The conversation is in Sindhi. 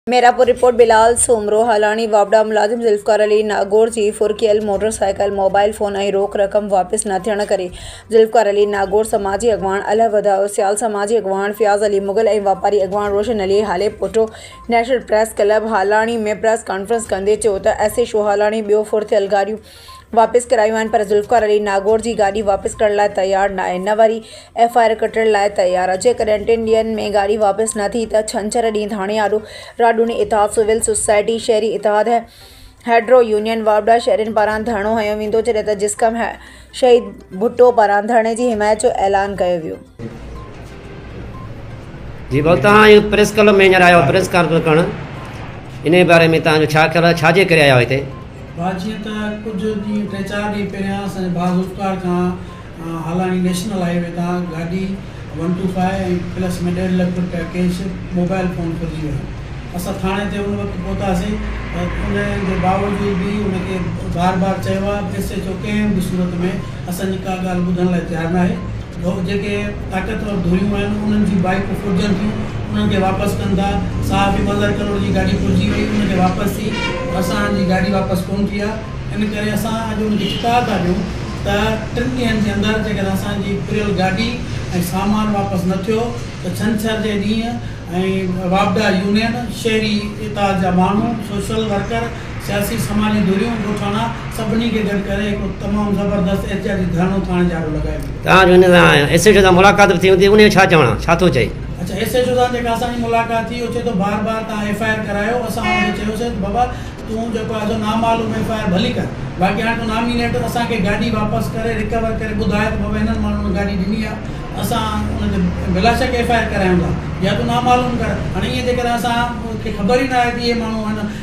ميرپور، رپورٽ، بلال سومرو هالاڻي واپڊا ملازم ذوالفقار علي ناگور جي ڦرڪيل موٽر سائيڪل، موبائيل فون ۽ روڪ رقم واپس نه ٿيڻ ڪري ذوالفقار علي ناگور، سماجي اڳواڻ الهه وڌائو سيال، سماجي اڳواڻ فياض علي مغل ۽ واپاري اڳواڻ Roshan Ali Halepoto national press club Halani ۾ press conference ڪندي چيو ته ايس ايڇ او هالاڻي ٻيو ڦرٿيل گاڏيون واپس ڪرايون آهن پر ذوالفقار علي ناگور جي گاڏي واپس ڪرڻ لاء تيار ناهي نه وري ايف آء آر ڪٽڻ لاء تيار آهي جيڪڏهن ٽن ڏينهن ۾ گاڏي واپس نه ٿي ته ڇنڇر ڏينهن ڌاڻي آڏو راڊوني اتحاد سول سوسائٽي شهري اتحاد هيڊرو يونين واوڊا شهرين پاران ڌرڻو هنيو ويندو جڏهن ته جسقم شهيد ڀٽو پاران ڌرڻي جي حمايت جو اعلان ڪيو ويو جي بل تان آيو پريس ڪلب ۾ هينئر آيو پريس ڪانفرنس ڪرڻ انهي باري ۾ تان جو ڇا خيال آهي ڇا جي ڪري آيو هتي. ڀا جيئن ته ڪجهه ڏينهن ٽي چار ڏينهن پهريان اسانجي ڀا ذوالفقار کان هالاڻي نيشنل هاء وي تان گاڏي ون ٽو فائو ۽ پلس ۾ ڏيڍ لک روپيا ڪيش موبائل فون ڦرجي ويو اسان ٿاڻي تي ان وقت پهتاسين ان جي باوجود به ان کي بار بار چيو آهي ايس ايچ او ڪنهن به صورت ۾ اسانجي ڪا ڳالهه ٻڌڻ لاء تيار ناهي ڌوڪ جيڪي طاقتور ڌريون آهن انهن جون بائيڪون ڦرجن ٿيون انهن کي واپس ڪن ٿا صحافي مظهر ڪلوڙ جي گاڏي ڦرجي وئي ان کي واپس ٿي پر اسان جي گاڏي واپس ڪون ٿي آ ان ڪري اسان اڄ ان کي چتاء ٿا ڏيون ته ٽن ڏينهن جي اندر جيڪڏهن اسان جي ڦريل گاڏي ۽ سامان واپس نه ٿيو ته ڇنڇر جي ڏينهن ۽ واپڊا يونين شهري اتحاد جا ماڻهو سوشل ورڪر سياسي سماجي ڌريون ڳوٺاڻا سڀني کي گڏ ڪري هڪ تمام زبردست احتجاجي ڌرڻو ٿاڻي جاڙو لڳايو ويندو. تان جو هن سان ايس ايڇ او سان ملاقات به ٿي هوندي انهي جو ڇا چوڻ آهي ڇا ٿو چئي. اڇا ايس ايڇ او سان جيڪا اسان جي ملاقات ٿي هو چئي ٿو بار بار تان ايف آء آر ڪرايو اسان هن کي چيوسين ته بابا تون جيڪو آهي سو نامعلوم ايف آء آر ڀلي ڪر باقي هاڻي تون نامينيٽ اسان کي گاڏي واپس ڪري ريڪور ڪري ٻڌاء ته بابا هنن ماڻهن گاڏي ڏني آهي اسان ان تي بلا شڪ ايف آء آر ڪرايون ٿا يا تون نامعلوم ڪر هاڻي ائين جيڪڏهن اسان کي خبر ئي نه آهي ته اهي ماڻهو هن